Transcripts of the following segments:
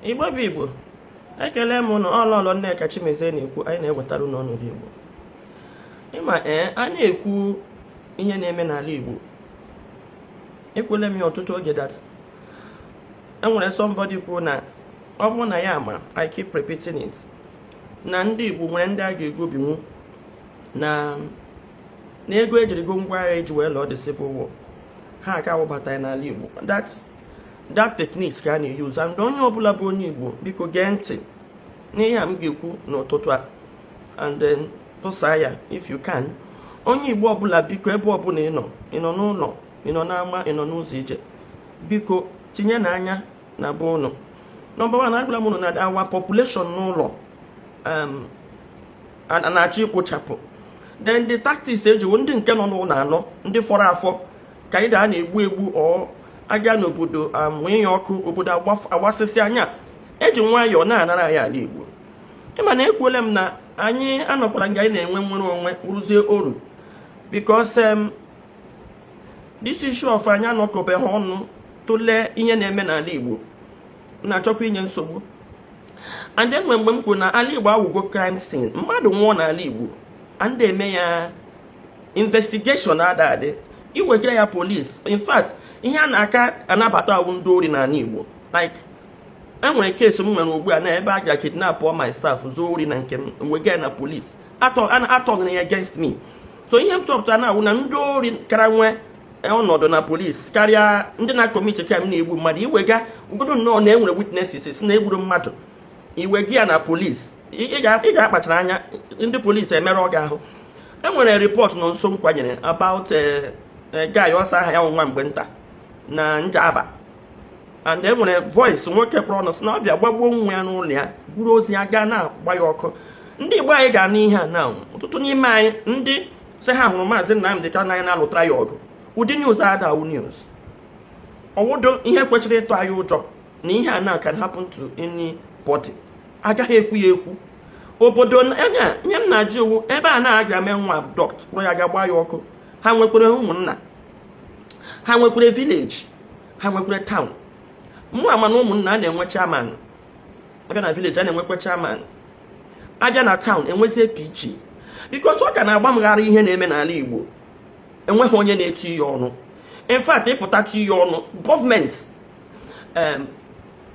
igbo bụ igbo ekele m unu ọ lọlọ nneka chimezie na-ekwu anyị na-ewetara unu ọnọdụ igbo ịma ee a na-ekwu ihe na-eme n'ala igbo ekwele m ya ọtụtụ oge that enwere somebody kwuo na ọ bụrụ na ya ma i keep repeating it na ndị igbo nwere ndị a ga-egobinwu na na ego ejiri go ngwa agha eji wee lụọ the civil war ha aka awụbata n'ala igbo that that technique ka a na-eyuzu and onye ọbụla bụ onye Igbo biko gee ntị n'ihe a m ga-ekwu n'ụtụtụ a and then tụsaa ya if you can onye Igbo ọbụla biko ebe ọbụla ị nọ ị nọ n'ụlọ ị nọ n'ama ị nọ n'ụzọ ije biko tinyenụ anya na be ụnụ number one agwala m ụnụ na our population n'ụlọ um, na-achọ ikpochapụ then the tactics eji wụ ndị nke nọ n'ụlọ anọ ndị fọrọ afọ ka either a na-egbu egbu or a gaa n'obodo amụnye ya ọkụ obodo agbasịsịa a na-eji nwayọọ na-anara anyị ala Igbo ịma na ekwuola m na anyị anọkwara nga anyị na-enwe nwere onwe rụzie ọrụ because um, this issue of anyị anọkọbeghị ọnụ tụlee ihe na-eme n'ala Igbo na-achọkwa inye nsogbu and enwe mgbe m kwuru na ala Igbo awụgo crime scene mmadụ nwụọ n'ala Igbo a na-eme ya investigation ada adị iwegara ya police in fact ihe a na-aka anabata awụ ndị ori n'ala Igbo like enwere case m nwere ugbu a na ebe a gara kidnap all my staff zuo ori na nke m wega ya na police atụgharịa ya against me so ihe m chọpụtara na awụ na ndị ori kara nwee ọnọdụ na police karịa ndị na-commit crime na-egbu mmadụ iwega ọ wụgodu nnọọ na enwere witnesses na egburu mmadụ iwega ya na police ị ga-akpachara anya ndị police emerụọ gị ahụ enwere report nọ nso m kwanyere about eh, eh, guy ọ sị aha ya wụ nwa mgbe nta na njaba and enwere voice nwoke kpọrọ ọnụ sị na ọ bịa gbagbuo nwa ya n'ụlọ ya buru ozu ya gaa na-agba ya ọkụ ndị igbo anyị ga-anụ ihe a na ọtụtụ n'ime anyị ndị sị ha hụrụ maazị Nnamdi Kanu n'anya na-alụtara ya ọgụ ụdị news a ada awụ news ọ wụdu ihe kwesịrị ịtụ anyị ụjọ na ihe a na can happen to anybody agaghị ekwu ya ekwu obodo anyị ihe m na-ajụ wụ ebe a na-aga mee nwa dọkpụrụ ya gaa gbaa ya ọkụ ha nwekwere ụmụnna ha nwekwere village ha nwekwere town mụ ama na ụmụnna a na-enwe chairman abịa na village a na-enwekwa chairman abịa na town enwezie PG because ọ ka na-agba m gharị ihe na-eme n'ala Igbo enweghị onye na-etinye ọnụ in fact ị pụta tinye ọnụ government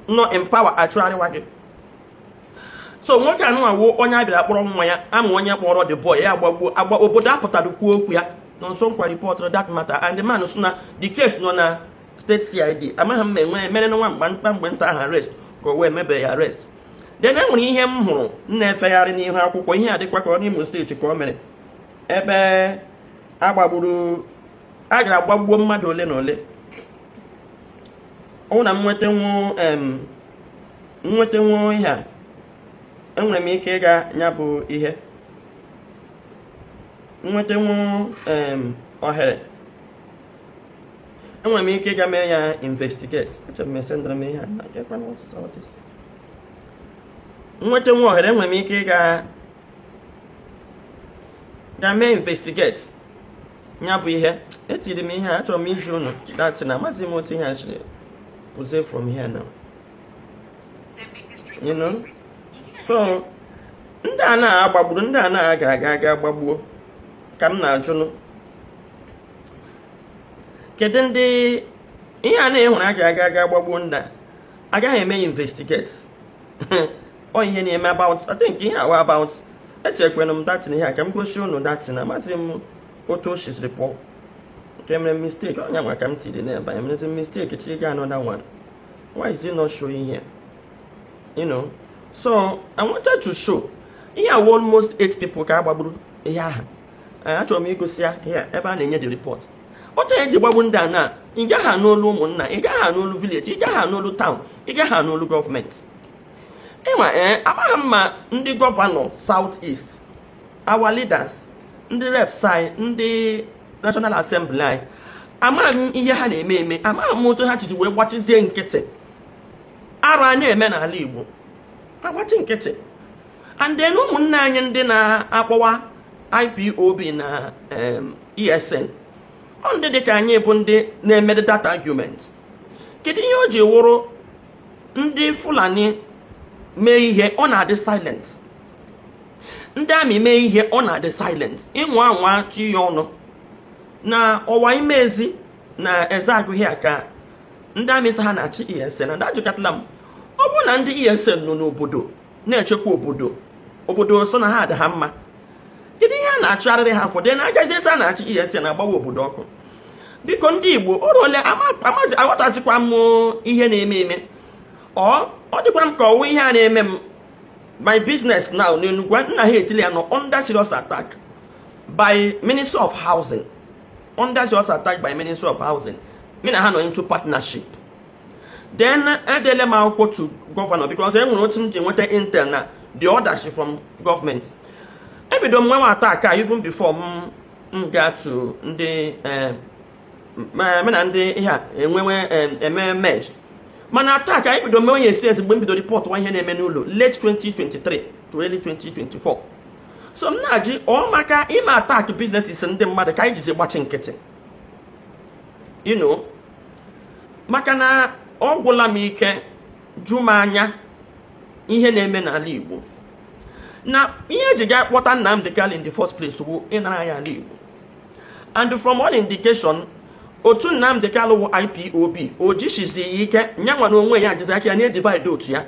nọ in power achụgharịwa gị so nwoke anụwa wụ onye a bịara kpọrọ nwa ya ama onye kpọrọ the boy ya agbagbuo agba obodo apụtara kwuo okwu ya nọ nso nkwa ripọtụrụ that matter and the man sị na the case nọ na steeti cid amaghị m ma emere nwa mgba mkpa mgbe nta ahụ arrest ka ọ wụ emebe ya arrest then enwere ihe m hụrụ m na-efegharị n'ihu akwụkwọ ihe a dịkwa ka ọ n'Imo steeti ka o mere ebe agbagburu a gara gbagbuo mmadụ ole na ole ọ wụ na m nweta nwetanwuo ihe a enwere m ike ịga ya bụ ihe nwetanwuo ohere enwere m ike ịga mee ya investigate echere m esendịrị m ihe a nweta nwa ohere enwere m ike ịga ga mee investigate ya bụ ihe etiri m ihe achọrọ m izi unu that thing amaghị m otu ihe a siri pụzie from here now you know so ndị a na-agbagburu ndị a na-aga aga aga gbagbuo ka m na-ajụnụ kedu ndị ihe a na-ehụrụ aga aga aga gbagbuo ndị a agaghị eme investigate ọ ihe na-eme about I think ihe awa about etikwanụ m that thing ihe a ka m gosi unu that thing amaghị m otu o siziri pụọ nke mere mistake onye nwa ka m tiri n'ebe a emerezi mistake chi ga another one why is it not showing here you know so I wanted to show ihe a almost eight people ka a gbagburu ihe ahụ achọrọ m igosi ya ebe a na-enye the report otu anyị ji gbagbu ndị a na ị gaghị anụ olu ụmụnna ị gaghị anụ olu village ị gaghị anụ olu town ị gaghị anụ olu gọọmenti ịma ee eh, amaghị m ma ndị gọvanọ South East our leaders ndị reps anyị ndị national assembly anyị amaghị m ihe ha na-eme eme amaghị m otu ha jizi wee gbachizie nkịtị arụ a na-eme n'ala igbo agbachi nkịtị and then ụmụnne anyị ndị na-akpọwa IPOB na ESN ọ ndị dị ka anyị bụ ndị na-emedụ that argument kedu ihe o ji wụrụ ndị Fulani mee ihe ọ na-adị silent ndị army mee ihe ọ na-adị silent ịnwa anwa tiye ọnụ na ọwa ime ezi na eze agụghị aka ndị army sị ha na-achụ ESN and ajụkatala m ọ bụrụ na ndị ESN nọ n'obodo na-echekwa obodo obodo sị na ha adị ha mma kedu ihe a na-achụgharịrị ha fọdụ na agaghị esi a na-achụ ESN na-agbawa obodo ọkụ biko ndị Igbo o ruole amazi aghọtazikwa m ihe na-eme eme ọ dịkwa m ka ọwụ ihe a na-eme m my business now n'Enugwu nna ha etili ya nọ under serious attack by Ministry of Housing under serious attack by Ministry of Housing mụ na ha nọ into partnership then edele m akwụkwọ to gọvanọ because e nwere otu m ji nweta intel na the orders from gọọmenti ebido m nwewe attack even before m m ga to ndị eh, me na ndị ihe a enwewe eh, eme merge mana attack ebido m mewe ya experience mgbe m bido reportụwa ihe na-eme n'Orlu late 2023 to early 2024 so m na-ajụ ọ maka ime attack businesses ndị mmadụ ka anyị jizi gbachi nkịtị you know maka na ọ gwụla m ike jụ m anya ihe na-eme n'ala Igbo na ihe eji gaa kpọta Nnamdi Kanu in the first place bụ ịnara ya ala Igbo and from all indication otu Nnamdi Kanu wụ IPOB o jisizighi ike ya nwa na onwe ya jizi aka ya na-edivide otu ya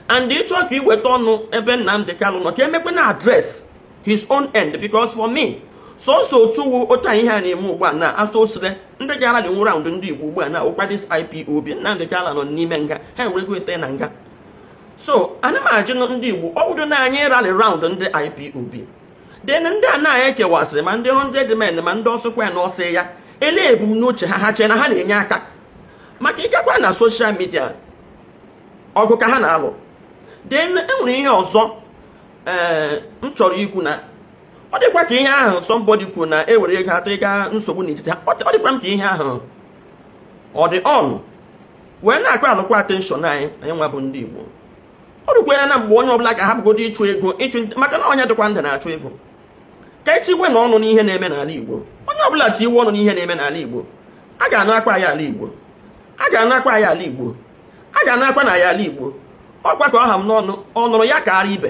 and ịchọ ka iweta ọnụ ebe Nnamdi Kanu nọ ka emekwe na address his own end because for me sọsọ otu way otu anyị ihe a na-eme ugbu a na asọ osire ndị gara dị nwụrụ anwụ ndị igbo ugbu a na ụkwa this ipob na ndị gara nọ n'ime nga ha enwerego ete na nga so ana m ajụ ndị igbo ọ bụrụ na anyị rally round ndị ipob then ndị a na-anyị ekewasịrị ma ndị 100 men ma ndị ọsọkwa ya na ọsọ ya ele ebumnuche ha ha chee na ha na-enye aka maka ịgakwa na social media ọgụ ka ha na-alụ then e nwere ihe ọzọ ee m chọrọ ikwu na ọ dịkwa ka ihe ahụ somebody kwuru na e were ego atọ ịga nsogbu n'etiti ha ọ dịkwa m ka ihe ahụ ọ dị ọnụ wee na-acallụkwa attention anyị anyị nwa bụ ndị Igbo ọ dịkwere na mgbe onye ọbụla ga-ahapụgodo ịchụ ego ịchụ maka na onye dịkwa ndụ na-achụ ego ka e tiwenụ ọnụ n'ihe na-eme n'ala Igbo onye ọbụla tiwe ọnụ n'ihe na-eme n'ala Igbo a ga-anụ akwa ya ala Igbo a ga-anụ akwa ya ala Igbo a ga na-akwa na ya ala igbo ọ kwa ka ọ ha m n'ọnụ ọ nụrụ ya kaara ibe